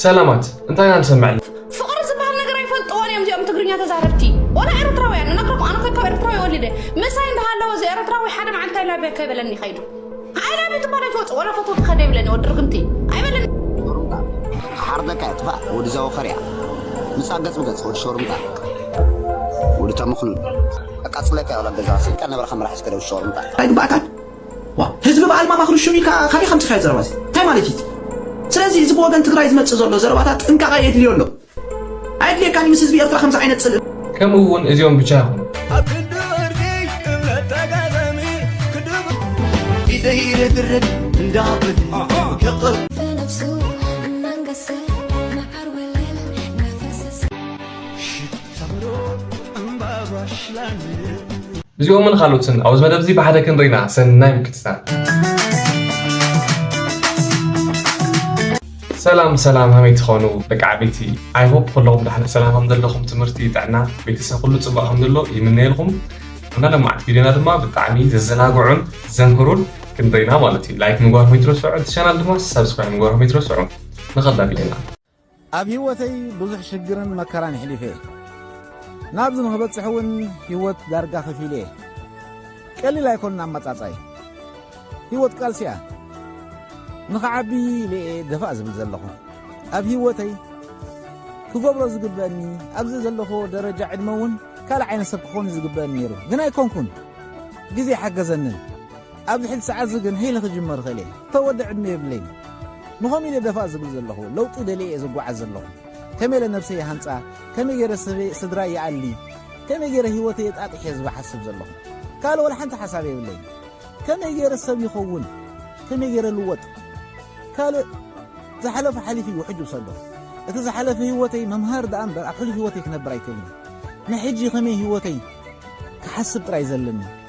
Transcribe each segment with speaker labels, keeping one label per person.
Speaker 1: ሰላማት እንታይ ኢና ንሰምዕ ኣለና? ፍቕሪ ዝበሃል ነገር
Speaker 2: ኣይፈልጥዎን እዮም እዚኦም ትግርኛ ተዛረብቲ ወላ ኤርትራውያን እነግረኩም ኣነ ኮ ካብ ኤርትራዊ ወሊደ ምሳይ እንዳሃለወ እዚ ኤርትራዊ ሓደ መዓልቲ ኣይላብያ ከይበለኒ ከይዱ ኣይላብ ትባል ኣይትወፅ ወላ ፎቶ ክኸደ ይብለኒ ወዲ ርግምቲ ኣይበለኒ
Speaker 3: ሓርደካ ጥፋእ ወዲ ዘወኸርያ ምፃ ገፅ ብገፅ ወዲ ሾርምታ ወዲ ተምኽኑን ኣቃፅለካ ወላ ገዛ ስልካ ነበረ ከምራሕ ስከደ ወዲ ሾርምታ ኣይግባእካን
Speaker 4: ዋእ ህዝቢ በኣል ማማ ክርሹን ኢልካ ካበይ ከምጽካዮ ዘረባ እዚ ታይ ማለት እዩ እቲ ስለዚ እዚ ብወገን ትግራይ ዝመጽእ ዘሎ ዘረባታት ጥንቃቀ የድልዮ ኣሎ ኣየድልየካን እዩ ምስ ህዝቢ ኤርትራ ከምዚ ዓይነት ጽልኢ ከምኡ እውን እዚኦም
Speaker 1: ብቻ ኣይኮኑን። ኣብ ክንዲ ዕርቂ እምነት ተጋጣሚ
Speaker 4: ክድብ ኢደይ ርግርግ እንዳብል ክቕር
Speaker 1: እዚኦምን ኻልኦትን ኣብዚ መደብ እዚ ብሓደ ክንርኢና ሰናይ ምክትታል። ሰላም ሰላም ሃመይ ትኾኑ ደቂ ዓበይቲ ኣይ ሆፕ ኩለኹም ዳሕለ ሰላም ከም ዘለኹም ትምህርቲ ጥዕና ቤተሰብ ኩሉ ፅቡቅ ከም ዘሎ ይምነየልኩም እና ለማዕት ቪድዮና ድማ ብጣዕሚ ዘዘናግዑን ዘምህሩን ክንርኢና ማለት እዩ ላይክ ምግባርኩም ይትረስዑ እቲ ቻናል ድማ ሰብስክራይብ ምግባርኩም ይትረስዑ ንኸላ ቪድዮና ኣብ ሂወተይ
Speaker 5: ብዙሕ ሽግርን መከራን ኣሕሊፈ ናብዚ ንክበጽሕ ውን ሂወት ዳርጋ ከፊለ እየ ቀሊል ኣይኮንን ኣመጻጻይ ሂወት ቃልሲ እያ ንክዓቢ ኢለ እየ ደፋእ ዝብል ዘለኹ ኣብ ሂወተይ ክገብሮ ዝግበእኒ ኣብዚ ዘለኹ ደረጃ ዕድመ ውን ካልእ ዓይነት ሰብ ክኾን እዩ ዝግበእኒ ነይሩ ግን ኣይኮንኩን ግዜ ኣይሓገዘንን ኣብዚ ሕጂ ሰዓትዚ ግን ህይለ ክጅምር እኽእል እየ ተወደ ዕድመ የብለይን ንኸምኡ ኢለ ደፋእ ዝብል ዘለኹ ለውጢ ደልየ እየ ዝጓዓዝ ዘለኹ ከመይ ኢለ ነብሰይ ይሃንጻ ከመይ ገይረ ስድራይ ይኣሊ ከመይ ገይረ ህይወተይ የጣጥሕ እየ ዝሓስብ ዘለኹ ካልእ ወላ ሓንቲ ሓሳብ የብለይን ከመይ ገይረ ሰብ ይኸውን ከመይ ገይረ ልወጥ ካልእ ዝሓለፈ ሓሊፉ እዩ ሕጂ ውሰዶ እቲ ዝሓለፈ ህይወተይ መምሃር ደኣ እምበር ኣብ ሕሉፍ ህይወተይ ክነብር ኣይክእልን ንሕጂ ከመይ ህይወተይ ክሓስብ ጥራይ ዘለኒ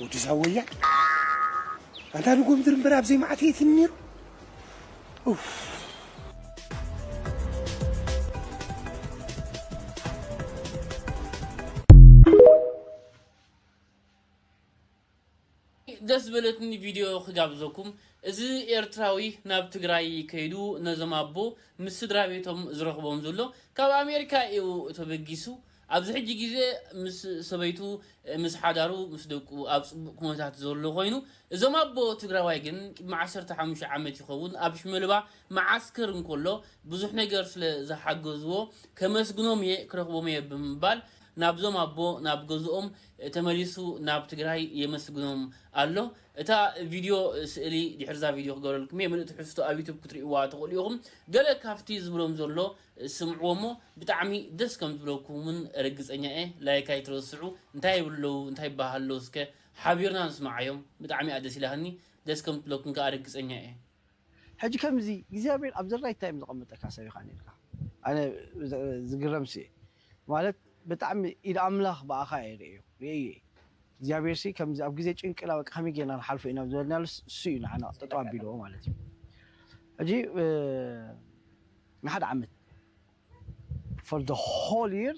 Speaker 3: ወዲ ዛወያ ኣንታ ንጎምድር እምበር ኣብዘይ መዓት የት ነይሩ
Speaker 6: ብጣዕሚ ደስ ዝበለትኒ ቪድዮ ክጋብዘኩም እዚ ኤርትራዊ ናብ ትግራይ ከይዱ ነዞም ኣቦ ምስ ስድራቤቶም ዝረኽቦም ዘሎ ካብ ኣሜሪካ ኢዩ ተበጊሱ ኣብዚ ሕጂ ግዜ ምስ ሰበይቱ ምስ ሓዳሩ ምስ ደቁ ኣብ ጽቡቅ ኩነታት ዘሎ ኮይኑ እዞም ኣቦ ትግራዋይ ግን ቅድሚ ዓሰርተ ሓሙሽተ ዓመት ይኸውን ኣብ ሽመልባ መዓስከር እንኮሎ ብዙሕ ነገር ስለ ዝሓገዝዎ ከመስግኖም ኢየ ክረኽቦም ኢየ ብምባል ናብዞም ኣቦ ናብ ገዝኦም ተመሊሱ ናብ ትግራይ የመስግኖም ኣሎ። እታ ቪድዮ ስእሊ ድሕሪዛ ቪድዮ ክገብረልኩም እየ። ምሉእ ትሕዝቶ ኣብ ዩቱብ ክትሪእዋ ትኽእሉ ኢኹም። ገለ ካብቲ ዝብሎም ዘሎ ስምዕዎ እሞ ብጣዕሚ ደስ ከም ዝብለኩም እውን ርግፀኛ እየ። ላይክ ኣይትረስዑ። እንታይ ይብሉ ኣለዉ እንታይ ይበሃሃሉ ኣለዉ እስከ ሓቢርና ንስምዓዮም። ብጣዕሚ እያ ደስ ኢላትኒ። ደስ ከም ትብለኩም ከኣ ርግፀኛ እየ። ሕጂ
Speaker 7: ከምዚ እግዚኣብሔር ኣብ ዘራይ ታይ እዮም ዘቀመጠካ ሰብ ኢካ ነርካ ኣነ ዝግረምስ እየ ማለት ብጣዕሚ ኢድ ኣምላኽ ብኣኻ እየ ርእዮ ርእየዮ እየ እግዚኣብሔርሲ ከምዚ ኣብ ግዜ ጭንቅና በቃ ከመይ ጌርና ንሓልፎ ኢና ዝበልናሉስ እሱ እዩ ንዓና ጠጠው ኣቢልዎ ማለት እዩ ሕጂ ንሓደ ዓመት for the whole year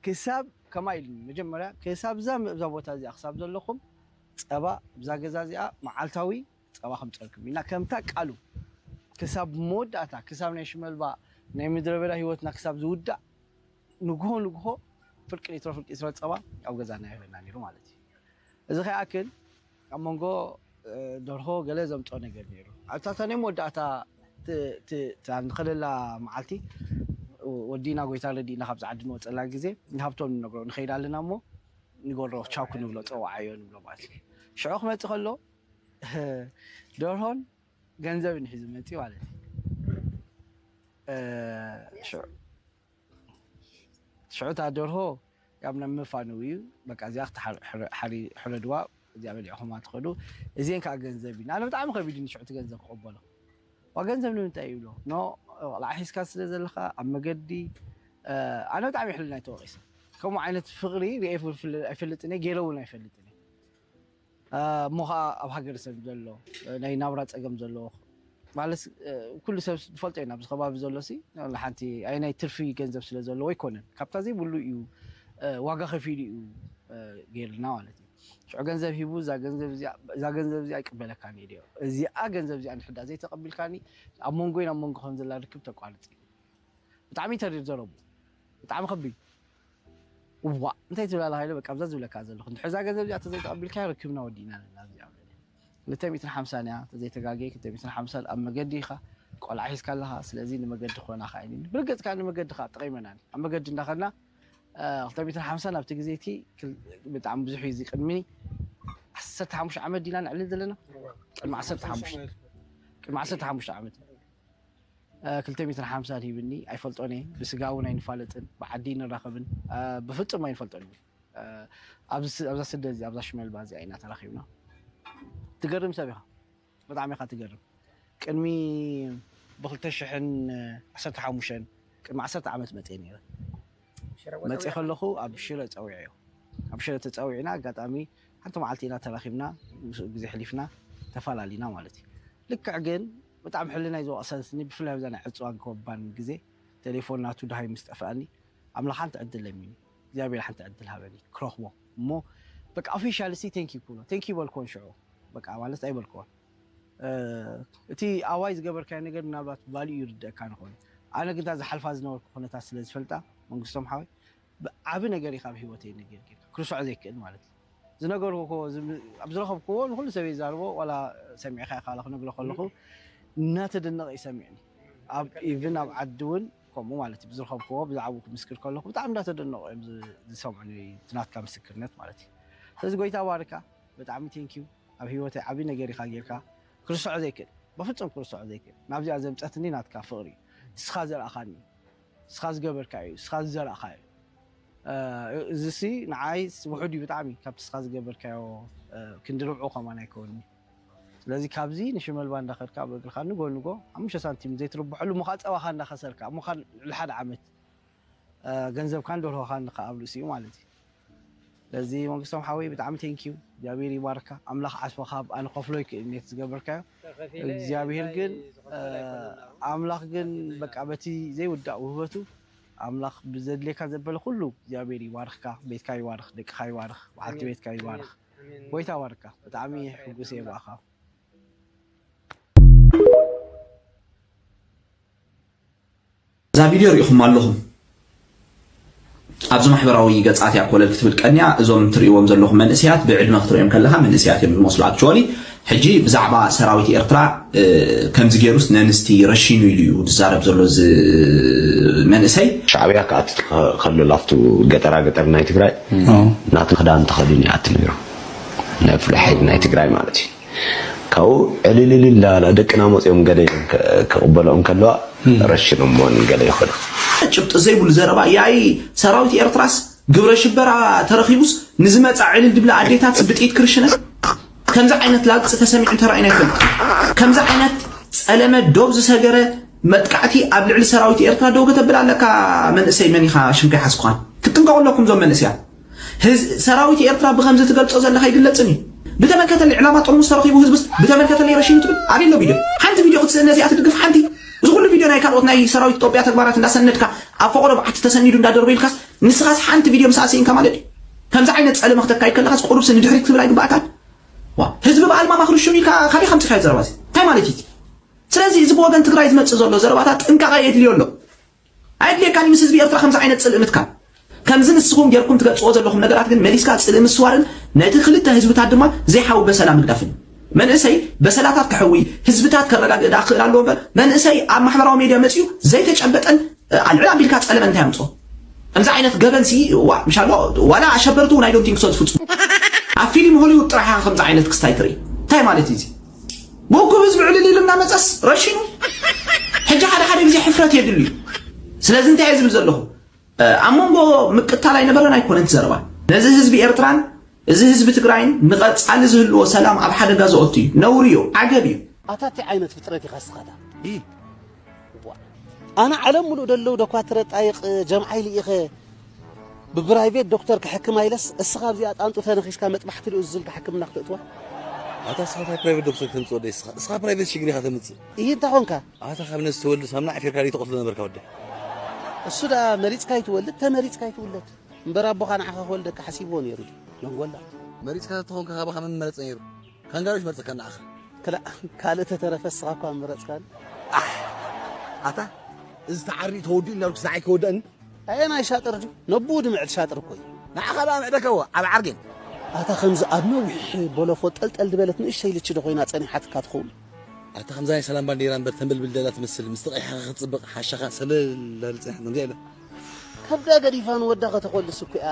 Speaker 7: ክሳብ ከማይ ኢሉኒ መጀመርያ ክሳብ እዛ እዛ ቦታ እዚኣ ክሳብ ዘለኹም ጸባ እብዛ ገዛ እዚኣ መዓልታዊ ጸባ ከምጸልኩም ኢልና ከምታ ቃሉ ክሳብ መወዳእታ ክሳብ ናይ ሽመልባ ናይ ምድረበዳ ሂወትና ክሳብ ዝውዳእ ንግሆ ንግሆ ፍርቂ ሊትሮ ፍርቂ ሊትሮ ጸባ ኣብ ገዛና የህበና ኔሩ ማለት እዩ እዚ ከይኣክል ኣብ መንጎ ደርሆ ገለ ዘምጾ ነገር ኔሩ ኣብታታ ናይ መወዳእታ ንኸደላ መዓልቲ ወዲና ጎይታ ረዲእና ካብዚ ዓዲ ንወጸላ ግዜ ንሃብቶም ንነግሮ ንኸይድ ኣለና እሞ ንገብሮ ቻው ክንብሎ ጸዋዓዮ ንብሎ ማለት እዩ ሽዑ ክመጽእ ከሎ ደርሆን ገንዘብን ሒዙ መፂ ማለት እዩ ሽዑ እታ ደርሆ ያብ ናብ ምፋንው እዩ በቃ እዚኣ ክትሓረድዋ እዚኣ በሊዕኹማ ትኸዱ እዚን ከዓ ገንዘብ እዩ ንኣነ ብጣዕሚ ከቢድኒ ሽዑ እቲ ገንዘብ ክቕበሎ ዋ ገንዘብ ንምንታይ ይብሎ ኖ ቆልዓ ሒዝካ ስለ ዘለካ ኣብ መገዲ ኣነ ብጣዕሚ ሕልና ተወቂሰ ከምኡ ዓይነት ፍቕሪ ርኤ ኣይፈልጥን እየ ገይረ እውን ኣይፈልጥን እየ እሞ ከኣ ኣብ ሃገረሰብ ዘሎ ናይ ናብራ ጸገም ዘለዎ ማለትስ ኩሉ ሰብ ዝፈልጦ ኢና ኣብዚ ከባቢ ዘሎሲ ዋላ ሓንቲ ኣየናይ ትርፊ ገንዘብ ስለ ዘለዎ ኣይኮነን ካብታ ዘይብሉ እዩ ዋጋ ከፊሉ እዩ ገይርልና ማለት እዩ ሽዑ ገንዘብ ሂቡ እዛ ገንዘብ እዚኣ እዛ ገንዘብ እዚኣ ይቅበለካን እዩ ድዮ እዚኣ ገንዘብ እዚኣ ንሕዳ ዘይተቀቢልካኒ ኣብ መንጎይን ኣብ መንጎ ከም ዘላ ርክብ ተቋርጽ እዩ ብጣዕሚ ተሪር ዘረቡ ብጣዕሚ ከቢድ እዋእ እንታይ ትብል ኣላ ሃይለ በቃ ኣብዛ ዝብለካ ዘለኹ እንድሕር እዛ ገንዘብ እዚኣ ተዘይተቐቢልካዮ ርክብና ወዲእና ኣለና እዚኣ በለ ክልተ ሚእትን ሓምሳን እያ ተዘይተጋገየ ክልተ ሚእትን ሓምሳን ኣብ መገዲ ኢኻ ቆልዓ ሒዝካ ኣለኻ ስለዚ ንመገዲ ክኾናኻ ኢኒ ብርግጽ ከዓ ንመገዲ ከዓ ጠቒመናኒ ኣብ መገዲ እንዳኸድና ክልተ ሚእትን ሓምሳን ኣብቲ ግዜ እቲ ብጣዕሚ ብዙሕ እዩ እዚ ቅድሚ ዓሰርተ ሓሙሽተ ዓመት ዲና ነዕልል ዘለና ቅድሚ ዓሰርተ ሓሙሽተ ቅድሚ ዓሰርተ ሓሙሽተ ዓመት ክልተ ሜትር ሓምሳን ሂብኒ ኣይፈልጦን እየ ብስጋ እውን ኣይንፋለጥን ብዓዲ ኣይንራኸብን ብፍፁም ኣይንፈልጦን እዩ ኣብዛ ስደት እዚ ኣብዛ ሽመልባ እዚኣ ኢና ተራኺብና ትገርም ሰብ ኢኻ ብጣዕሚ ኢኻ ትገርም ቅድሚ ብክልተ ሽሕን ዓሰርተ ሓሙሽተን ቅድሚ ዓሰርተ ዓመት መፅኤ ነይረ መፅኤ ከለኹ ኣብ ሽረ ፀዊዐ እዩ ኣብ ሽረ ተፀዊዕና ኣጋጣሚ ሓንቲ መዓልቲ ኢና ተራኺብና ምስኡ ግዜ ሕሊፍና ተፈላለና ማለት እዩ ልክዕ ግን ብጣዕሚ ሕልናይ ዝወቕሰን ስኒ ብፍላይ ኣብዛ ናይ ዕጽዋን ኮባን ግዜ ቴሌፎን ናቱ ደሃይ ምስ ጠፈኣኒ ኣምላኽ ሓንቲ ዕድል ለሚኒ እግዚኣብሄር ሓንቲ ዕድል ሃበኒ ክረኽቦ እሞ በቃ ኦፊሻሊ ሲ ቴንኪው ክብሎ ቴንኪው በልክዎን ሽዑ በቃ ማለት ኣይበልክዎን እቲ ኣዋይ ዝገበርካዮ ነገር ምናልባት ቫልዩ ይርደእካን ይኸውን እዩ ኣነ ግን እታ ዝሓልፋ ዝነበርኩ ኩነታት ስለ ዝፈልጣ መንግስቶም ሓወይ ዓቢ ነገር እዩ ካብ ሂወተይ ነጊርኪ ክርስዖ ዘይክእል ማለት እዩ ዝነገርክዎ ኣብ ዝረኸብክዎ ንኹሉ ሰብ እየ ዝዛርቦ ዋላ ሰሚዕካ ኢኻ ክነግሮ ከለኹ እናተደነቐ እዩ ሰሚዕኒ ኣብ ኢቭን ኣብ ዓዲ እውን ከምኡ ማለት እዩ ብዝረኸብክዎ ብዛዕባኡ ክምስክር ከለኹ ብጣዕሚ እናተደነቑ እዮም ዝሰምዑኒ እቲ ናትካ ምስክርነት ማለት እዩ ስለዚ ጎይታ ባርካ ብጣዕሚ ቴንኪዩ ኣብ ሂወተይ ዓብዪ ነገር ኢኻ ጌርካ ክርስዖ ዘይክእል በፍጹም ክርስዖ ዘይክእል ናብዚኣ ዘምፀትኒ ናትካ ፍቕሪ እዩ ንስኻ ዘርኣኻኒ እዩ ንስኻ ዝገበርካዮ እዩ ንስኻ ዝዘራእኻዮ እዩ እዚሲ ንዓይ ውሑድ እዩ ብጣዕሚ ካብቲ ንስኻ ዝገበርካዮ ክንዲ ርብዑ ከማን ኣይከውንን እዩ ስለዚ ካብዚ ንሽመልባ እንዳኸድካ ኣብ እግርኻ ንጎ ንጎ ሓሙሽተ ሳንቲም ዘይትርብሐሉ እሞ ከዓ ፀባኻ እንዳኸሰርካ እሞ ከዓ ልዕሊ ሓደ ዓመት ገንዘብካን ደርሆኻን ከዓ ኣብ ርእሲኡ ማለት እዩ ስለዚ መንግስቶም ሓወይ ብጣዕሚ ቴንኪዩ እግዚኣብሔር ይባርካ ኣምላኽ ዓስብኻ ብኣ ንኸፍሎ ይክእል ኔት ዝገበርካዮ እግዚኣብሔር ግን ኣምላኽ ግን በቃ በቲ ዘይውዳእ ውህበቱ ኣምላኽ ብዘድልየካ ዘበለ ኩሉ እግዚኣብሔር ይባርኽካ ቤትካ ይባርኽ ደቅኻ ይባርኽ በዓልቲ ቤትካ ይባርኽ ጎይታ ይባርካ ብጣዕሚ ሕጉስ እየ ብኣኻ
Speaker 4: እዛ ቪድዮ ሪኢኹማ ኣለኹም ኣብዚ ማሕበራዊ ገጻት እያ ኮለል ክትብል ቀንያ እዞም ትርእይዎም ዘለኹም መንእሰያት ብዕድመ ክትርእዮም ከለኻ መንእሰያት እዮም ዝመስሉ ኣክቹዋሊ ሕጂ ብዛዕባ ሰራዊት ኤርትራ ከምዚ ገይሩስ ነንስቲ ረሺኑ ኢሉ እዩ ዝዛረብ ዘሎ እዚ መንእሰይ ሻዕብያ
Speaker 3: ክኣቲ ከሎ ላፍቱ ገጠራ ገጠር ናይ ትግራይ ናቱ ክዳን ተኸዲኑ ይኣቲ ነይሩ ነፍልሐይ ናይ ትግራይ ማለት እዩ ካብኡ ዕልልልል እናበላ ደቅና መፅዮም ገለ ኢለን ክቕበልኦ እንከለዋ ረሽኖሞን ገለ ይኾና። ጭብጢ ዘይብሉ
Speaker 4: ዘረባ ያኢ ሰራዊት ኤርትራስ ግብረሽበራ ተረኺቡስ ንዝመጻ ዕልል ድብላ ኣዴታትስ ብጥይት ክርሽነን ከምዚ ዓይነት ላግጺ ተሰሚዑን ተራእዩን ኣይፈልጥን ከምዚ ዓይነት ጸለመ ዶብ ዝሰገረ መጥቃዕቲ ኣብ ልዕሊ ሰራዊት ኤርትራ ደው ከተብል ኣለካ መንእሰይ መን ኢኻ ሽምካ ይሓዝኩኻን ክትጥንቀቑ ኣለኩም ዞም መንእሰያት ሰራዊት ኤርትራ ብከምዚ ትገልጾ ዘለካ ኣይግለጽን እዩ ብተመልከተለይ ዕላማ ጥርሙስ ተረኺቡ ህዝብስ ብተመልከተለይ ረሺኑ ትብል ኣበይ ኣሎ ቪድዮ ሓንቲ ቪድዮ ክትስእን ነዚኣ ትድግፍ ሓንቲ እዚ ኩሉ ቪድዮ ናይ ካልኦት ናይ ሰራዊት ኢትዮጵያ ተግባራት እንዳሰነድካ ኣብ ፈቆዶ በዓቲ ተሰኒዱ እንዳደርበ ኢልካስ ንስኻስ ሓንቲ ቪድዮ ምስኣ ስኢንካ ማለት እዩ ከምዚ ዓይነት ጸለመ ክተካይድ ከለኻስ ቁሩብሲ ንድሕሪት ክትብል ኣይግባእካን ህዝቢ ብኣልማ ማክርሽኑ ኢልካ ካበይ ከም ጽካዮ ዘረባ እንታይ ማለት እዩ ስለዚ እዚ ብወገን ትግራይ ዝመጽእ ዘሎ ዘረባታት ጥንቃቐ የድልዮ ኣሎ ኣየድልየካን እዩ ምስ ህዝቢ ኤርትራ ከምዚ ዓይነት ጽልኢ ምትካል። ከምዚ ንስኹም ጌርኩም ትገልጽዎ ዘለኹም ነገራት ግን መሊስካ ጽልኢ ምስዋርን ነቲ ክልተ ህዝብታት ድማ ዘይሓዊ በሰላ ምግዳፍን እዩ። መንእሰይ በሰላታት ከሕዊ፣ ህዝብታት ከረጋግእ ደኣ ክኽእል ኣለዎ እምበር መንእሰይ ኣብ ማሕበራዊ ሜድያ መጺኡ ዘይተጨበጠን ኣልዕል ኣቢልካ ጸለመ እንታይ ኣምጽኦ? ከምዚ ዓይነት ገበን ሲ እዋ ምሻሎ ዋላ ኣሸበርቲ እውን ኣይ ዶንት ቲንክ ሶ ዝፍጽሙ። ኣብ ፊሊም ሆሊውድ ጥራሕ ኢኻ ከምዚ ዓይነት ክስታይ ትርኢ። እንታይ ማለት እዩ እዚ? ብእኩብ ህዝቢ ዕልል ኢሉ እናመፀስ ረሽኑ ሕጂ ሓደ ሓደ ግዜ ሕፍረት የድል እዩ ስለዚ እንታይ እየ ዝብል ዘለኹ ኣብ መንጎ ምቅታል ኣይነበረን ኣይኮነን ትዘረባ ነዚ ህዝቢ ኤርትራን እዚ ህዝቢ ትግራይን ንቐፃሊ ዝህልዎ ሰላም ኣብ ሓደጋ ዘኦቱ እዩ ነውሪ እዩ ዓገብ እዩ ኣታ እንታይ ዓይነት ፍጥረት
Speaker 7: ኢኻ ስኻታ ኣነ ዓለም ምሉእ ደለዉ ደኳትረ ጣይቅ ጀምዓይ ልኢኸ ብብራይቬት ዶክተር ክሕክም ኣይለስ እስኻ ኣብዚኣ ጣንጡ ተነኺስካ መጥባሕቲ ልኡዝ ዝልካ ሕክምና ክትእትዋ ኣታ እስኻ
Speaker 8: እንታይ ፕራይቬት ዶክተር ከተምጽእ ወደይ እስኻ እስኻ ፕራይቬት ሽግር ኢኻ ተምጽእ እይ እንታይ ኮንካ
Speaker 7: ኣታ ካብ ነዚ ተወልድ
Speaker 8: ሳምና ዓፊርካ ደይ ተቐትሎ ነበርካ ወደይ እሱ
Speaker 7: ደኣ መሪጽካ ይትወልድ ተመሪጽካ ይትውለድ እምበር ኣቦኻ ንዓኻ ክወልደካ ሓሲብዎ ነይሩ መንጎላ መሪጽካ
Speaker 8: ተኾንካ ካባኻ መመረጽ ነይሩ ካንጋሮ ይመርጸካ ንዓኻ። ክላእ ካልእ
Speaker 7: ተተረፈ እስኻ እኳ ምረጽካኒ። ኣሕ
Speaker 8: ኣታ እዚ ተዓርዩ ተወዲኡ እንዳበልኩስ ንዓይ ከይወደኣኒ። ኣየናይ ሻጥር
Speaker 7: ድዩ ነብኡ ድምዕድ ሻጥር እኮ እዩ። ንዓኻ ደኣ ምዕደካዎ
Speaker 8: ኣብ ዓርጌን። ኣታ ከምዚ
Speaker 7: ኣብ ነዊሕ ቦሎፎ ጠልጠል ድበለት ንእሽተይ ልቺ ዶ ኮይና ጸኒሓትካ ትኸውን። ኣታ ከምዛ
Speaker 8: ናይ ሰላም ባንዴራ እምበር ተንበልብል ደላ ትመስል ምስ ተቐይሓኻ ክትጽብቕ ሓሻኻ ሰለል ዳብል ጸኒሓትኒ እንታይ ኢለ። ከብዳ
Speaker 7: ገዲፋ ንወዳ ከተኾልስ እኮ እያ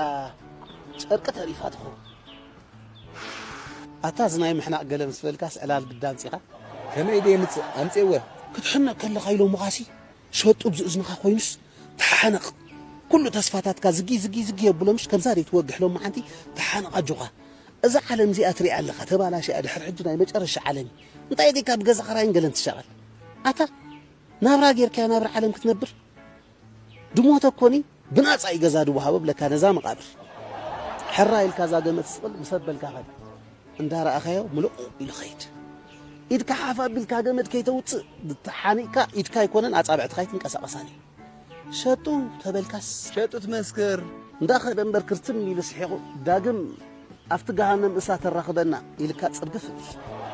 Speaker 7: ጨርቂ ተሪፋ ትኸውን። ኣታ እዚ ናይ ምሕናቕ ገለ ምስ በልካስ ዕላል ግዳ ኣምጺኻ። ከመይ ኢለ የምጽእ
Speaker 8: ኣምጺኤወ። ክትሕነቕ ከለኻ
Speaker 7: ኢሎምኻሲ ሸጡ እብዚ እዝንኻ ኮይኑስ ተሓነቕ ኩሉ ተስፋታትካ ዝጊ ዝጊ ዝጊ የብሎምሽ ከምዛ ድዩ ትወግሕ ሎሚ ሓንቲ ተሓነቕ ኣጆኻ እዛ ዓለም እዚኣ ትሪኣ ኣለኻ ተባላሽያ ድሕሪ ሕጂ ናይ መጨረሻ ዓለም እዩ እንታይ ዲካ ብገዛ ኽራይን ገለን ትሻቐል ኣታ ናብራ ጌርካዮ ናብራ ዓለም ክትነብር ድሞተ ኮኒ ብናጻ እዩ ገዛ ድወሃቦ ብለካ ነዛ መቓብር ሕራይ ኢልካ እዛ ገመት ስቕል ምስ ኣበልካ ከድ እንዳረኣኻዮ ምልቑቕ ኢሉ ኸይድ ኢድካ ሓፍ ኣቢልካ ገመድ ከይተውጽእ ተሓኒቕካ ኢድካ ኣይኮነን ኣጻብዕትኻ ኣይትንቀሳቐሳን እዩ ሸጡ ተበልካስ ሸጡ ትመስክር
Speaker 8: እንዳኸደ እምበር
Speaker 7: ክርትም ኢሉ ስሒቑ ዳግም ኣብቲ ገሃነም እሳ ተራኽበና ኢልካ ጽርግፍ እብል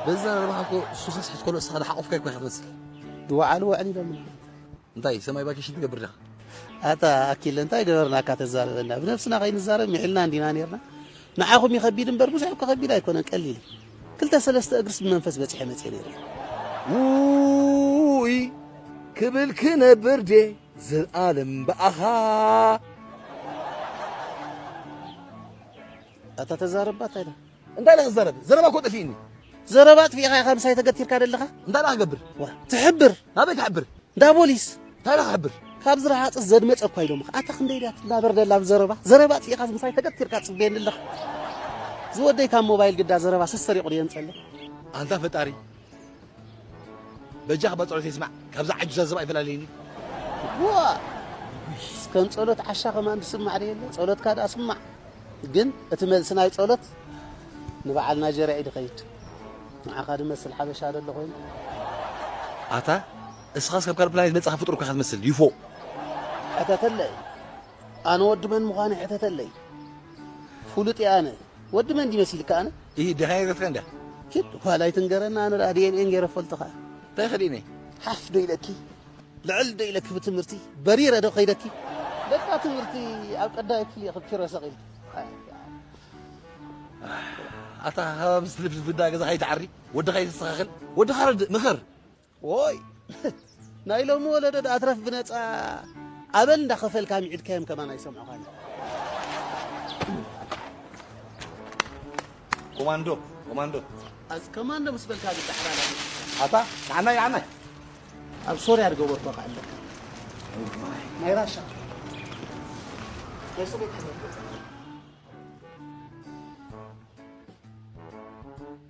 Speaker 7: በዛ
Speaker 8: ረባሕኮ ሱኸስ ሕትኮሎ እሳኻ ድሓቆፍካ ይኮ ሕቕጽ ድወዓሉ ወዕል
Speaker 7: ኢሎምና እንታይ ሰማይ
Speaker 8: ቫኬሽን ትገብር ዲኻ? ኣታ
Speaker 7: ኣኪለ እንታይ ገበርናካ ተዛርበና ብነብስና ከይንዛረብ ምሒልና እንዲና ነርና ንዓኹም ይኸቢድ እምበር ብዙሕ እኮ ከቢድ ኣይኮነን ቀሊል ክልተ ሰለስተ እግርስ ብመንፈስ በፂሐ መፅየ ነይረ ውይ
Speaker 8: ክብል ክነብር ዴ ዘልኣለም ብኣኻ
Speaker 7: ኣታ ተዛረብ ባት ኣይዳ እንታይ ኢለ ክዛረብ
Speaker 8: ዘረባ እኮ ጠፊእኒ ዘረባ ኣጥፊእኻ
Speaker 7: ኢኻ ምሳይ ተገቲርካ ደለኻ እንታይ ኢለ ክገብር
Speaker 8: ትሕብር
Speaker 7: ናበይ ክሕብር
Speaker 8: እንዳ ፖሊስ
Speaker 7: እንታይ ኢለ ክሕብር
Speaker 8: ካብ ዝረሃፅ
Speaker 7: ዘድመፀ እኳ ኢሎምኻ ኣታ ክንደይ ድያ ትናበር ደላ ዘረባ ዘረባ ኣጥፊእኻ ምሳይ ተገቲርካ ፅበየኒ ኣለኻ ዝወደይ ካብ ሞባይል ግዳ ዘረባ ሰሰሪቑ ድየ ንፀለ ኣንታ ፈጣሪ
Speaker 8: በጃኽ በጸሎት ይስማዕ ካብዛ ዓጁዝ ኣዘባ ኣይፈላልየኒ ዋእ
Speaker 7: ከም ጸሎት ዓሻ ከማን ዝስማዕ ዶ የለ ጸሎትካ ደኣ ስማዕ ግን እቲ መልሲ ናይ ጸሎት ንበዓል ናይጀርያ እዩ ድኸይድ ንዓኻ ድመስል ሓበሻ ዶ ኣሎ ኮይኑ
Speaker 8: ኣታ እስኻስ ካብ ካልእ ፕላኔት መጻኻ ፍጡር እኳ ኢኻ ትመስል ይፎ ቀተተለ
Speaker 7: እዩ ኣነ ወዲ መን ምዃነይ ሕተተለይ ፍሉጥ እየ ኣነ ወዲ መን ድዩ መሲልካ ኣነ እሂ ድኻ የገፍከ እንዳ
Speaker 8: ኪድ ዋላ
Speaker 7: ኣይትንገረኒ ኣነ ደኣ ዲኤንኤን ገይረ ፈልጥኻ እንታይ ክዲኒ
Speaker 8: ሓፍ ዶ ኢለኪ
Speaker 7: ልዕል ዶ ኢለኪ ብትምህርቲ በሪረ ዶ ከይደኪ በቃ ትምህርቲ ኣብ ቀዳይ ክፍሊ እየ ክብኪረ ሰቂል
Speaker 8: ኣታ ሃባብስ ልብስ ብዳ ገዛኻ ይትዓሪ ወድኻ ይተስተኻኽል ወድኻ ረድእ ምኸር ዎይ
Speaker 7: ናይ ሎሚ ወለዶ ድኣ ትረፍ ብነጻ ኣበል እንዳ ከፈልካ ምዒድካዮም ከማን ኣይሰምዑኻን እዮም።
Speaker 8: ኮማንዶ ኮማንዶ ኣዝ
Speaker 7: ከማንዶ ምስ በልካ ዝዳሕራ ኣታ
Speaker 8: ንዓናይ ንዓናይ
Speaker 7: ኣብ ሶርያ ዝገበርኩ ከዓ ኣለካ ናይ ራሻ ናይ ሶቤት ሕብረት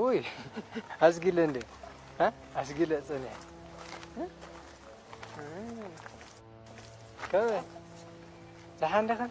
Speaker 9: ውይ ኣስጊለ
Speaker 10: እንደ ኣስጊለ ፅንሕ ከመይ ደሓን ዲኽን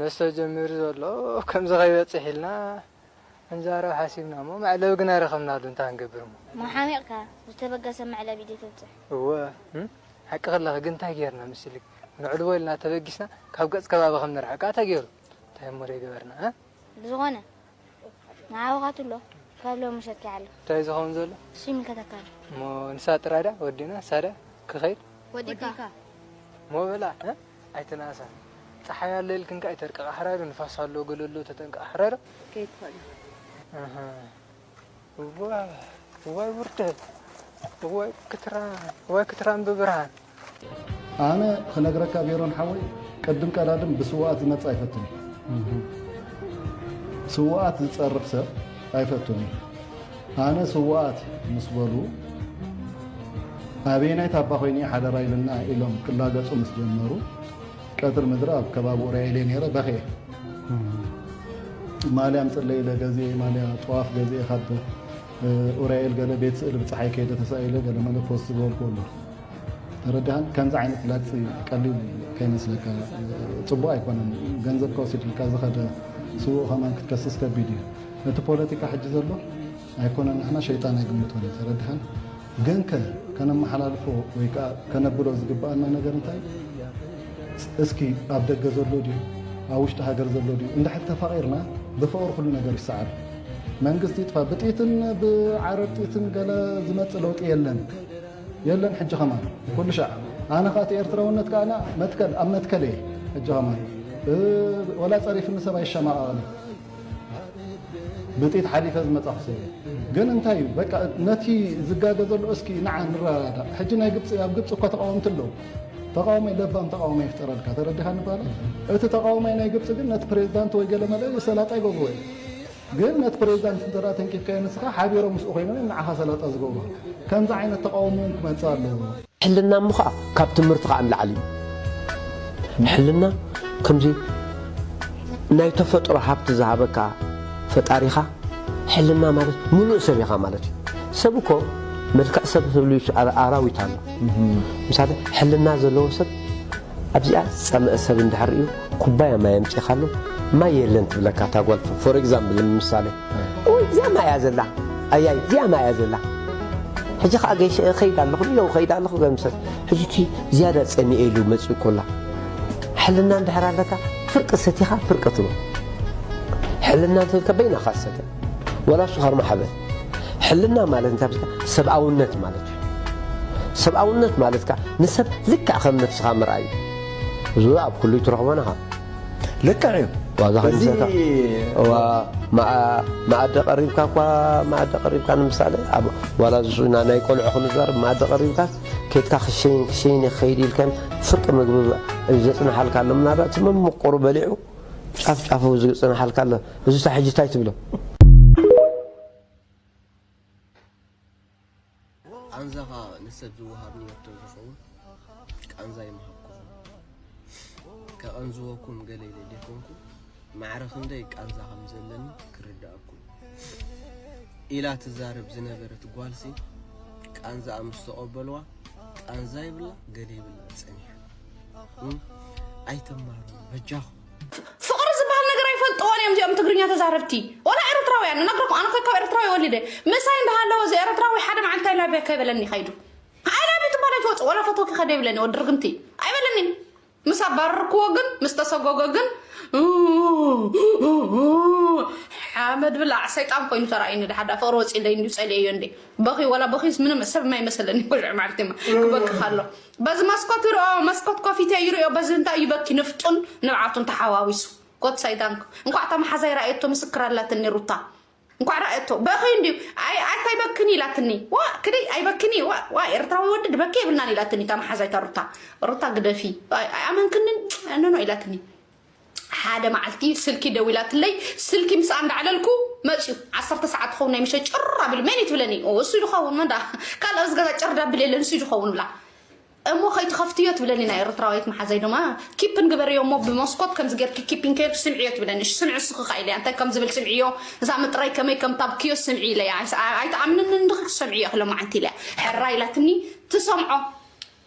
Speaker 10: መስተ ጀሚሩ ዘሎ ከምዚ ከይበጽሕ ኢልና ክንዛረብ ሓሲብና እሞ መዕለቢ ግና ኣይረኸብናሉን እንታይ ክንገብር እሞ። እሞ ሓሚቕካ
Speaker 9: ዝተበገሰ መዕለቢ ድዩ ተብጽሕ?
Speaker 10: እወ ሓቅኺ ኣለኺ ግን እንታይ ጌርና ምስኢሊ ነዕልቦ ኢልና ተበጊስና ካብ ገጽ ከባቢ ከም ንርሕቃ ተጌሩ እንታይ እሞ ደይገበርና እ። ብዝኾነ
Speaker 9: ንዓወኻ ትብሎ ካብ ሎሚ ሰኪዓ ኣሎ። እንታይ እዩ ዝኸውን ዘሎ? ንሱ
Speaker 10: ይምልከተካ ኣሎ።
Speaker 9: እሞ ንሳ ጥራይ
Speaker 10: ድኣ ወዲእና ንሳ ድኣ ክኸይድ ወዲእካ
Speaker 9: እሞ
Speaker 10: በላ እ ኣይትንኣሳ ጸሓይ ኣሎ ኢልክን ከኣ ኣይተርቅቓ ሕራሩ ንፋስ ኣሎ ገለ ኣሎ ተጠንቀቒ ሕራሩ ከይትኾና
Speaker 9: እህ
Speaker 10: እዋይ ውርደት እዋይ ክትራን ብብርሃን። ኣነ
Speaker 11: ክነግረካ ሜሮን ሓወይ ቅድም ቀዳድም ብስዋኣት ዝመጽ ኣይፈቱን ስዋኣት ዝጸርፍ ሰብ ኣይፈቱን ኣነ ስዋኣት ምስ በሉ ኣበየናይ ታባ ኮይነ ሓደራ ኢልና ኢሎም ክላገጹ ምስ ጀመሩ ቀትር ምድሪ ኣብ ከባቢ ኡርያይለይ ነይረ በኽየ ማልያ ምፅለይ ኢለ ገዚኤ ማልያ ጠዋፍ ገዚኤ ካብ ኡርያኤል ገለ ቤት ስእሊ ብፀሓይ ከይደ ተሳኢለ ገለ መለ ፖስት ዝበልኩ ኣሎ ተረዳሃን ከምዚ ዓይነት ላግፂ ቀሊል ከይመስለካ ፅቡቅ ኣይኮነን ገንዘብ ከወሲድልካ ዝኸደ ስውእ ከማን ክትከስስ ከቢድ እዩ ነቲ ፖለቲካ ሕጂ ዘሎ ኣይኮነን ንሕና ሸይጣን ኣይግምቶን እዩ ተረድሃን ግንከ ከነመሓላልፎ ወይ ከዓ ከነብሎ ዝግብኣና ነገር እንታይ እስኪ ኣብ ደገ ዘሎ ድዩ ኣብ ውሽጢ ሃገር ዘሎ ድዩ እንድሕር ተፋቂርና ብፍቅሪ ኩሉ ነገር ይሰዓር መንግስቲ ይጥፋ ብጢትን ብዓረብ ጢትን ገለ ዝመፅእ ለውጢ የለን የለን ሕጂ ከማን ኩሉ ሻዕ ኣነ ከዓ እቲ ኤርትራውነት ከዓ መትከል ኣብ መትከል እየ ሕጂ ከማን ወላ ፀሪፍኒ ሰብ ኣይሸማቐቕን ብጥይት ሓሊፈ ዝመጻኹ ሰብ እየ ግን እንታይ እዩ በቃ ነቲ ዝጋገ ዘሎ እስኪ ንዓ ንረዳዳእ ሕጂ ናይ ግብፂ ኣብ ግብፂ እኳ ተቃወምቲ ኣለዉ ተቃዋማይ ለባም ተቃዋማይ ይፍጠረልካ ተረዲኻ ንባለ እቲ ተቃዋማይ ናይ ግብፂ ግን ነቲ ፕሬዚዳንት ወይ ገለ መለ ሰላጣ ይገብርዎ እዩ ግን ነቲ ፕሬዚዳንት እንተ ተንኪፍካዮ ንስኻ ሓቢሮም ምስኡ ኮይኖም እዮም ንዓኻ ሰላጣ ዝገብሩ ከምዚ ዓይነት ተቃውሞ እውን ክመፅእ ኣለዎ ሕልና እሞ ኸኣ
Speaker 12: ካብ ትምህርቲ ኸኣ ንላዕሊ እዩ። ሕልና ከምዚ ናይ ተፈጥሮ ሃብቲ ዝሃበካ ፈጣሪኻ ሕልና ማለት ምሉእ ሰብ ኢኻ ማለት እዩ። ሰብ እኮ መልክዕ ሰብ ህልው ኣራዊት ኣሎ። ምሳሌ ሕልና ዘለዎ ሰብ ኣብዚኣ ዝጸመኣ ሰብ እንድሕር ሪኡ ኩባያ ማይ ኣምጺኻሉ ማይ የለን ትብለካ እታ ጓል ፎር ኤግዛምብል ንምሳሌ። ኡይ እዚኣ ማይ እያ ዘላ ኣያይ እዚኣ ማይ እያ ዘላ ሕጂ ከዓ ገይሸ እኸይድ ኣለኹ ንዮ እኸይድ ኣለኹ ገምሰት ሕጂ እቲ ዝያዳ ጸሚኤ ኢሉ መጺኡ ኮላ ሕልና እንድሕር ኣለካ ፍርቂ ሰቲኻ ፍርቂ ትብል ሕልና እንተልካ በይናኻ ሰተ ወላ እሱ ካርማ ሓበል ሕልና ማለት እንታይ ብልካ ሰብኣውነት ማለት እዩ ሰብኣውነት ማለት ከዓ ንሰብ ልክዕ ከም ነፍስኻ ምርኣይ እዩ እዚ ኣብ ኩሉ ትረኽቦ ናኻ ልክዕ
Speaker 11: እዩ ዋዛ
Speaker 12: ከይምሰታ መኣዲ ቀሪብካ እኳ መኣዲ ቀሪብካ ንምሳሌ ኣብ ዋላ ዝስኡና ናይ ቆልዑ ክንዛርብ መኣዲ ቀሪብካ ኬትካ ክሸይን ክሸይን ክኸይድ ኢልካም ፍርቂ ምግቢ ዘፅናሓልካ ኣሎ ምናልባት እቲ መምቆሩ በሊዑ ጫፍ ጫፉ ዝፅናሓልካ ኣሎ እዚ ሕጂ እንታይ ትብሎ
Speaker 13: ቃንዛ ኸኣ ንሰብ ዝወሃብ ንየትዶ ዝኸውን ቃንዛ ይምሃብኩኹም ከቐንዝወኩም ገለ ኢለ ዘይኮንኩ ማዕረ ክንደይ ቃንዛ ከም ዘለኒ ክርድኣኩም ኢላ ትዛረብ ዝነበረት ጓልሲ ቃንዛኣ ምስ ተቐበልዋ ቃንዛ ይብላ ገለ ይብላ ጸኒሓ ኣይትማሩ በጃኹም ፍቅሪ
Speaker 2: ዝበሃል ነገር ኣይፈልጥዎን እዮም እዚኦም ትግርኛ ተዛረብቲ ወላ ኤርትራውያን እነግረኩም ኣነ ካብ ኤርትራዊ ወሊደ ምሳይ እንዳሃለወ እዚ ኤርትራዊ ሓደ መዓልቲ ኣይላብያ ከይበለኒ ከይዱ ኣይላብዩ ትባል ኣይትወፅእ ወላ ፈተውኪ ከደ ይብለኒ ወዲ ርግምቲ ኣይበለኒ ምስ ኣባረርክዎ ግን ምስ ተሰጎገ ግን ሓመድ ብላዕ ሰይጣን ኮይኑ ተራእዩኒ ድሓዳ ፍቅሪ ወፂለይ እንዲ ፀልየዮ እንዲ በኺ ወላ በኺስ ምንም ሰብ የማይመሰለኒ ኩልዕ መዓልቲ ክበክኽ ኣሎ በዚ መስኮት ይርኦ መስኮት ኮፊተ ይርኦ በዚ እንታይ እዩ በኪ ንፍጡን ንብዓቱን ተሓዋዊሱ ኮት ሰይጣንኩ እንኳዕ እታ መሓዛይ ራእየቶ ምስክር ኣላትኒ ሩታ እንኳዕ ራእየቶ በኺ እንዲዩ ኣታ ይበክኒ ኢላትኒ ዋ ክደይ ኣይበክኒ ዋ ኤርትራዊ ወዲ ድበኪ የብልናን ኢላትኒ እታ መሓዛይታ ሩታ ሩታ ግደፊ ኣይኣመንክንን ኖኖ ኢላትኒ ሓደ መዓልቲ ስልኪ ደዊላትለይ ስልኪ ምስኣ እንዳዕለልኩ መፅዩ ዓሰርተ ሰዓት ትኸውን ናይ ምሸት ጭር ኣቢሉ መን እዩ ትብለኒ ኦ እሱ ዝኸውን መን ደኣ ካልእ ኣብዚ ገዛ ጭር ዳብል የለን እሱ ዝኸውን ብላ እሞ ከይትኸፍትዮ ትብለኒ ናይ ኤርትራዊት መሓዛይ ድማ ኪፕን ግበርዮ እሞ ብመስኮት ከምዚ ጌርኪ ኪፕን ከይርኪ ስምዕዮ ትብለኒ እሺ ስምዒ ንስኺ ከ ኢለያ እንታይ ከም ዝብል ስምዕዮ እዛ ምጥራይ ከመይ ከም ታብክዮ ስምዒ ኢለያ ኣይትኣምንንን ድኺ ክሰምዕዮ ክሎ መዓንቲ ኢለያ ሕራ ኢላትኒ ትሰምዖ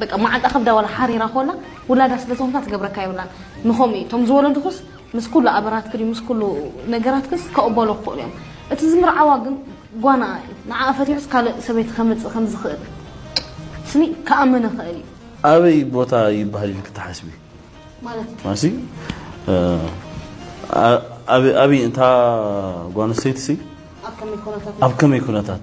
Speaker 14: በቃ ማዓንጣ ከብዳ ዋላ ሓሪራ ኮላ ውላዳ ስለ ዝኮንካ ትገብረካ የብላን ንከምኡ እዩ እቶም ዝወለዱክስ ምስ ኩሉ ኣበራትክን ምስ ኩሉ ነገራትክንስ ከቅበሎ ክክእሉ እዮም እቲ ዝምርዓዋ ግን ጓና እዩ ንዓኣ ፈቲሑስ ካልእ ሰበይቲ ከምጽእ ከም ዝክእል ስኒ ክኣምን ይክእል እዩ። ኣበይ ቦታ
Speaker 15: ይብሃል ኢልኪ ትሓስቢ ማለት ማሲ ኣበይ ኣበይ እታ ጓል ኣንስተይቲ ሲ ኣብ ከመይ ኩነታት ኣብ ከመይ ኩነታት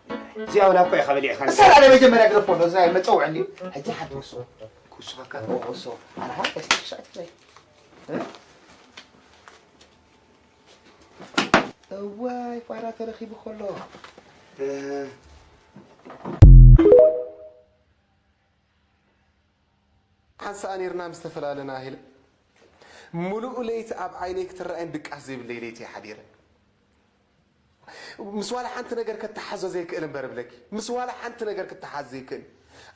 Speaker 3: እዚኣ ወላ እኳ ኢኻ በሊዕካ እሳ ላለ መጀመርያ ግረፎ ዶ ዝናይ መፀውዕ እንድዩ ሕጂ ሓንቲ ወሶ ክውስኸካ ወሶ ኣርሃ ስሻት ዘይ እዋይ ፋራ ተረኺቡ ከሎ
Speaker 16: ሓንሳእ ኔርና ምስ ተፈላለና ኢለ ምሉእ ለይቲ ኣብ ዓይነይ ክትረኣይን ድቃስ ዘይብለይ ለይቲ እየ ሓዲረ። ምስ ዋላ ሓንቲ ነገር ከታሓዞ ዘይክእል እምበር እብለኪ ምስ ዋላ ሓንቲ ነገር ክታሓዝ ዘይክእል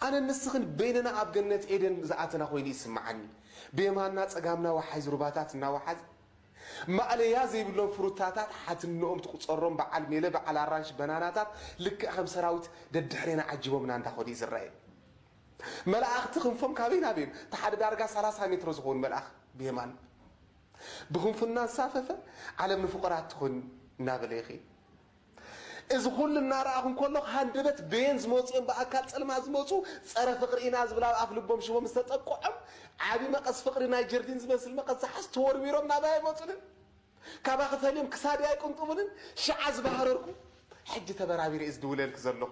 Speaker 16: ኣነን ንስኽን በይንና ኣብ ገነት ኤደን ዝኣተና ኮይኑ ይስማዓኒ ብየማንና ጸጋምና ዋሓይዝ ሩባታት እናዋሓዝ ማእለያ ዘይብሎም ፍሩታታት ሓትንኦም ትቁጸሮም በዓል ሜለ በዓል ኣራንሺ በናናታት ልክዕ ከም ሰራዊት ደድሕሬና ዓጂቦምና እንዳኸዱ እዩ ዝረኣየኒ። መላእኽቲ ክንፎም ካበይ ናበይን እቲ ሓደ ዳርጋ ሰላሳ ሜትሮ ዝኸውን መልኣኽ ብየማን ብክንፉ እናንሳፈፈ ዓለም ንፍቑራት ትኹን እናበለ ይኺድ። እዚ ኩሉ እናረኣኹ እንከሎኹ ሃንደበት በየን ዝመጹ እዮም ብኣካል ጸልማት ዝመጹ ጸረ ፍቕሪ ኢና ዝብል ኣብ ኣፍ ልቦም ሽቦም ዝተጠቅዖም ዓቢ መቐስ ፍቕሪ ናይ ጀርዲን ዝመስል መቐስ ዝሓዙ ተወርዊሮም ናባይ ኣይመጹንን ካባኺ ፈልዮም ክሳደይ ኣይቅንጥቡንን ሽዓ ዝባህረርኩ ሕጂ ተበራቢረ እየ ዝድውለልኪ ዘለኹ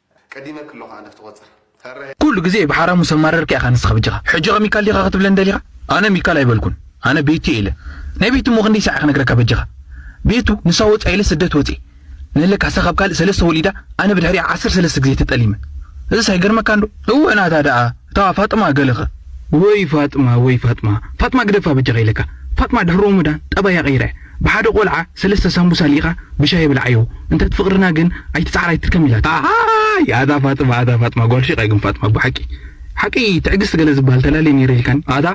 Speaker 14: ቀዲመ
Speaker 16: ክሎ ከኣ ነፍቲ ቆጽር ፈረ። ኩሉ ግዜ
Speaker 17: ብሓራሙ ሰማረርካ ኢኻ ንስኻ በጃኻ ሕጂ ከ ሚካል ዲኻ ክትብለኒ ደሊኻ ኣነ ሚካል ኣይበልኩን ኣነ ቤቱ እየ ኢለ ናይ ቤቱ እሞ ክንደይ ሳዕ እየ ክነግረካ በጃኻ ቤቱ ንሳ ወጻ ኢለ ስደት ወጼ ንለ ካሕሳ ካብ ካልእ ሰለስተ ወሊዳ ኣነ ብድሕሪኣ ዓሰርተ ሰለስተ ግዜ ተጠሊመ እዝስ ኣይገርመካን ዶ እወ ናታ ደኣ እታ ፋጥማ ገለ ከ ወይ ፋጥማ ወይ ፋጥማ ፋጥማ ግደፋ በጃኻ ኢለካ ፋጥማ ድሕሪ ሮሞዳን ጠባያ ቀይራ እያ። ብሓደ ቆልዓ ሰለስተ ሳምቡሳ ሊኢኻ ብሻሂ ብልዓዮ እንተ ፍቅርና ግን ኣይትጽዓር ኣይትድከም ኢላታ። ኣሃይ ኣታ ፋጥማ ኣታ ፋጥማ ጓል ሺቃ ግን ፋጥማ ኣቦ ሓቂ ሓቂ ትዕግስት ገለ ዝብሃል ተላልየ ነይረ ኢልካኒ ኣታ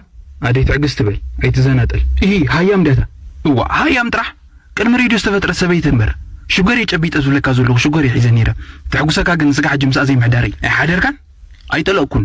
Speaker 17: ኣደይ ትዕግስት በል ኣይትዘናጠል እሂ ሃያም ድያ እታ እዋእ ሃያም ጥራሕ ቅድሚ ሬድዮ ዝተፈጥረት ሰበይቲ እንበር ሽጎር እየ ጨቢጠ ዝብለካ ዘለኩ ሽጎር እየ ሒዘ ነይረ ተሕጉሰካ ግን ስጋዕ ሕጂ ምስኣ ዘይምሕዳረይ ኣይሓደርካን ኣይጠለቅኩን።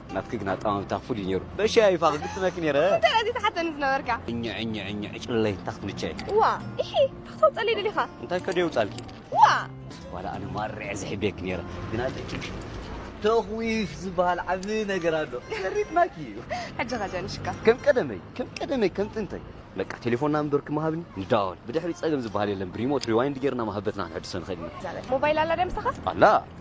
Speaker 13: ናትኪ ግን ኣጠማምታ ፍሉይ ነይሩ በሻ እዩ ፋኽ ግጥመኪ ነይረ እንታይ ኣዚ ተሓተኒ
Speaker 9: ዝነበርካ ዕኘ ዕኘ ዕኘ ዕጭለይ
Speaker 13: እንታይ ክትምቸይ እዋ ኢሒ
Speaker 9: እንታይ ክተውፀለይ ደሊኻ እንታይ ከደ የውፃልኪ
Speaker 13: እዋ ዋላ ኣነ ማርዐ ዝሕቤኪ ነይረ ግን ኣለኪ ተኽዊፍ ዝበሃል ዓብዪ ነገር ኣሎ ዘሪጥናኪ እዩ ሕጂ ኸ ጀንሽካ
Speaker 9: ከም ቀደመይ ከም
Speaker 13: ቀደመይ ከም ጥንተይ በቃ ቴሌፎን ናምበር ክመሃብኒ ንዳወል ብድሕሪ ጸገም ዝበሃል የለን ብሪሞት ሪዋይንድ ጌርና መሃበትና ክንሕድሶ ንኽእል ኢና ሞባይል ኣላ ደ ምሳኻ
Speaker 9: ኣላ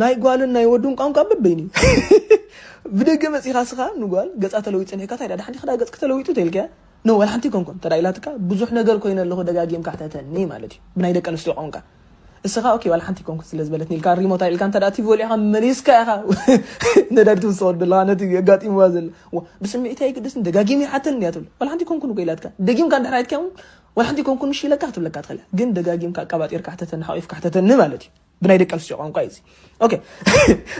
Speaker 18: ናይ ጓልን ናይ ወዱን ቋንቋ በበይኑ እዩ ብደገ መጺኻ ስኻ ንጓል ገጻ ተለዊጡ ጸኒሕካ ታይ ዳሓንቲ ክዳ ገጽኪ ተለዊጡ ተልካያ ን ወላ ሓንቲ ኣይኮንኩን እንተ ኢላትካ ብዙሕ ነገር ኮይነ ኣለኹ ደጋጊምካ ሕተተኒ ማለት እዩ ብናይ ደቂ ኣንስትዮ ቋንቋ እስኻ ኦኬ ዋላ ሓንቲ ኣይኮንኩን ስለ ዝበለትኒ ኢልካ ሪሞት ኣልዒልካ እንተ ቲቪ ወሊዕካ መሊስካ ኢኻ ነዳዲ ትውስኸሉ ዘለኻ ነቲ ኣጋጢምዋ ዘሎ ብስምዒት ኣይግደስን ደጋጊም ይሓተኒ እያ ትብል ዋላ ሓንቲ ኣይኮንኩን እኮ ኢላትካ ደጊምካ እንድሕር ኣይትካውን ዋላ ሓንቲ ኣይኮንኩን እሺ ኢለካ ክትብለካ ትኽእል ግን ደጋጊምካ ኣቀባጢርካ ሕተተኒ ሓቚፍካ ሕተተኒ ማለት እዩ ብናይ ደቂ ኣንስትዮ ቋንቋ እዩ እዚ ኦኬ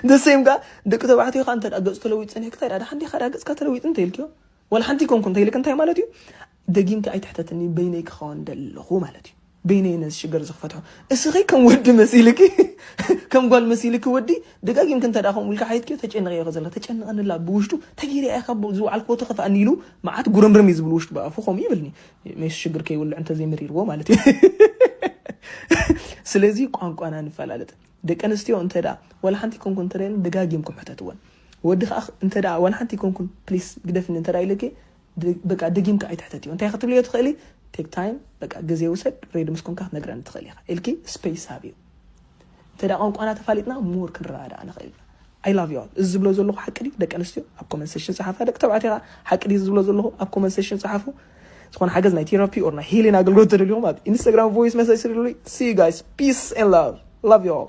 Speaker 18: ንሰይም ከዓ ደቂ ተባዕትዮ ከዓ እንተ ገፁ ተለዊጡ ፀኒሕክ እንታይ ዳሓደ ሓንዴ ካዳ ገፅካ ተለዊጡ እንተይልክዮ ዋላ ሓንቲ ኮንኩ እንተይልክ እንታይ ማለት እዩ ደጊምካ ኣይትሕተትኒ በይነይ ክኸውን ደለኹ ማለት እዩ በይነይ ነዚ ሽግር ዝክፈትሖ እስኺ ከም ወዲ መሲልኪ ከም ጓል መሲልኪ ወዲ ደጋጊምክ እንተ ከምኡ ኢልካ ሓይትክዮ ተጨንቕ እዮ ዘለካ ተጨንቐንላ ብውሽጡ ተገይርያ ኢኻ ዝወዓልክዎ ተኸፍኣኒ ኢሉ መዓት ጉርምርም እዩ ዝብል ውሽጡ ብኣፉ ከምኡ ይብልኒ ሜስ ሽግር ከይውልዕ እንተዘይ መሪርዎ ማለት እዩ ስለዚ ቋንቋና ንፈላለጥ ደቂ ኣንስትዮ እንተ ዋላ ሓንቲ ኮንኩን እንተደን ደጋጊምኩም ሕተትወን ወዲ ከዓ እንተ ዋላ ሓንቲ ኮንኩን ፕሊስ ግደፍኒ እንተ ኢለኪ በቃ ደጊምካ ኣይትሕተትዮ እንታይ ክትብልዮ ትኽእሊ ቴክ ታይም በቃ ግዜ ውሰድ ሬድ ምስ ኮንካ ክትነግረኒ ትኽእል ኢኻ ኢልኪ ስፔስ ሃብዮ እንተ ቋንቋና ተፋሊጥና ሞር ክንረዳዳእ ንኽእል ኢና። ኣይ ላቭ ዩ ኣል እዚ ዝብሎ ዘለኹ ሓቂ ድዩ ደቂ ኣንስትዮ ኣብ ኮመንት ሴሽን ጸሓፋ ደቂ ተባዕትዮ ከኣ ሓቂ ድዩ ዝብሎ ዘለኹ ኣብ ኮመንት ሴሽን ጸሓፉ ዝኾነ ሓገዝ ናይ ቴራፒ ኦር ናይ ሂሊን ኣገልግሎት ተደልዩኹም ኣብ ኢንስታግራም ቮይስ መሰጅ ስርሉይ ሲ ዩ ጋይስ ፒስ ኤንድ ላቭ ላቭ ዩ ኦል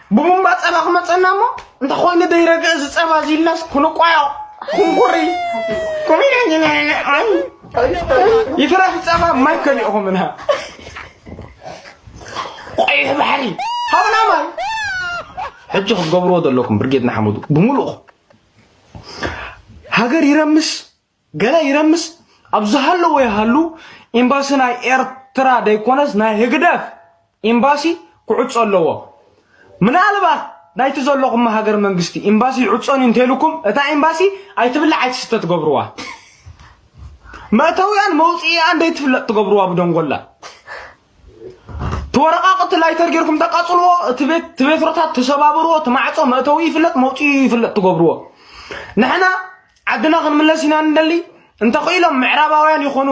Speaker 18: ብቡምባ ጸባ ክመጸና እሞ እንተ ኮይኑ ደይረግእ እዚ ጸባ እዚ ኢልናስ ክንቋዮ ኩንኩሪ ይትረፍ ጸባ ማይ ከሊእኹምና ቆይሕ ባሕሪ ሃብና ማይ ሕጂ ክትገብርዎ ዘለኩም ብርጌድ ንሓመዱ ብምሉእኹም ሃገር ይረምስ ገለ ይረምስ ኣብ ዝሃለዎ ይሃሉ ኤምባሲ ናይ ኤርትራ ደይኮነስ ናይ ህግደፍ ኤምባሲ ክዕጾ ኣለዎ ምናልባት ናይቲ ዘለኹም ሃገር መንግስቲ ኤምባሲ ይዕጾን እንተልኩም እታ ኤምባሲ ኣይትብላዕ ኣይትስተ ትገብርዋ መእተዊኣን መውፅኢኣን ደይትፍለጥ ትገብርዋ ብደንጎላ ተወረቃቅቲ ላይተር ጌርኩም ተቃጽልዎ እቲ ቤት ትቤትሮታት ተሰባብርዎ ትማዕጾ መእተዊ ይፍለጥ መውፅኡ ይፍለጥ ትገብርዎ ንሕና ዓድና ክንምለስ ኢና ንደሊ እንተኽኢሎም ምዕራባውያን ይኾኑ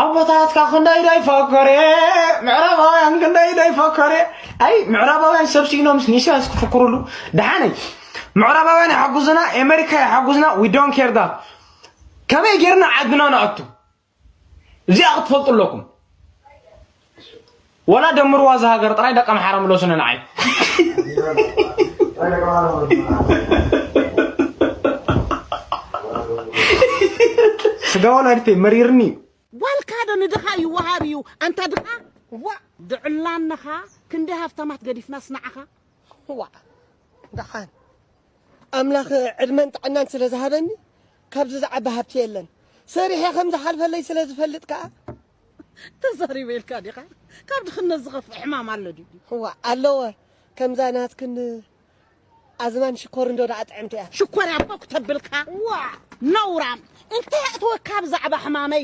Speaker 18: ኣቦታትካ ክንደይ ዘይፈከረ ምዕራባውያን ክንደይ ዘይፈከረ ኣይ ምዕራባውያን ሰብ ሲኢኖም ንኢሳያስ ክፍክሩሉ ደሓነይ ምዕራባውያን ይሓጉዝና ኣሜሪካ ይሓጉዝና ዊ ዶን ኬር ዳት ከመይ ጌርና ዓድና ንኣቱ እዚኣ ክትፈልጡ ኣለኩም ወላ ደምርዋ እዛ ሃገር ጥራይ ደቂ ኣምሓራ ምለሱኒ ንዓይ ስጋ ወላዲተይ መሪርኒ ዋልካ ዶ
Speaker 19: ንድኻ ይወሃብ እዩ ኣንታ ድኻ ዋ ድዕላንኻ ክንዲ ሃብታማት ገዲፍናስ ንዓኻ ዋ
Speaker 13: ደሓን ኣምላኽ ዕድመን ጥዕናን ስለ ዝሃበኒ ካብዚ ዝዓቢ ሃብቲ የለን። ሰሪሐ ከም ዝሓልፈለይ ስለ ዝፈልጥ ከኣ።
Speaker 19: ተዛሪበ ኢልካ ዲኻ? ካብ ድኽነት ዝኸፍእ ሕማም ኣሎ ድዩ? እዋ ኣለወ።
Speaker 13: ከምዛ ናትክን ኣዝማን ሽኮርንዶ ደኣ ጥዕምቲ እያ። ሽኮርያ እኮ
Speaker 19: ክተብልካ ዋእ ነውራም። እንተ የእትወካ ብዛዕባ ሕማመይ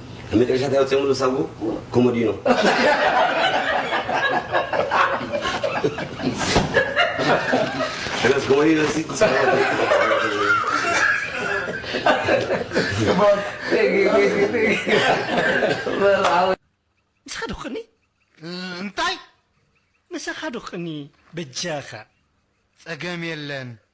Speaker 20: ኣብ መጨረሻ እንታይ ኣውፂኦምሉ ሳጉኡ? ኮሞዲኖ። ሕናስ ኮሞዲኖ ሲ
Speaker 19: ምሳኻ ዶ ክቕኒ እንታይ ምሳኻ ዶ ክቕኒ
Speaker 21: በጃኻ
Speaker 19: ፀገም
Speaker 21: የለን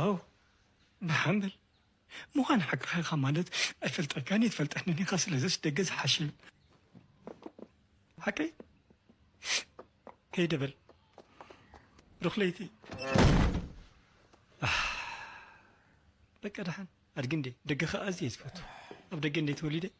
Speaker 1: ኣው ንሓን በል ምዃን ሓቅኻ ኢኻ ማለት ኣይፈልጠካን እየ ትፈልጠኒ ኢኻ ስለዝስ ደገ ዝሓሸ እዩ ሓቀይ ከይደ በል ሩክለይቲ በቃ ደሓን ኣድጊ እንዴ ደገ ከኣ ኣዝየ ዝፈቱ ኣብ ደገ እንዴ ተወሊደ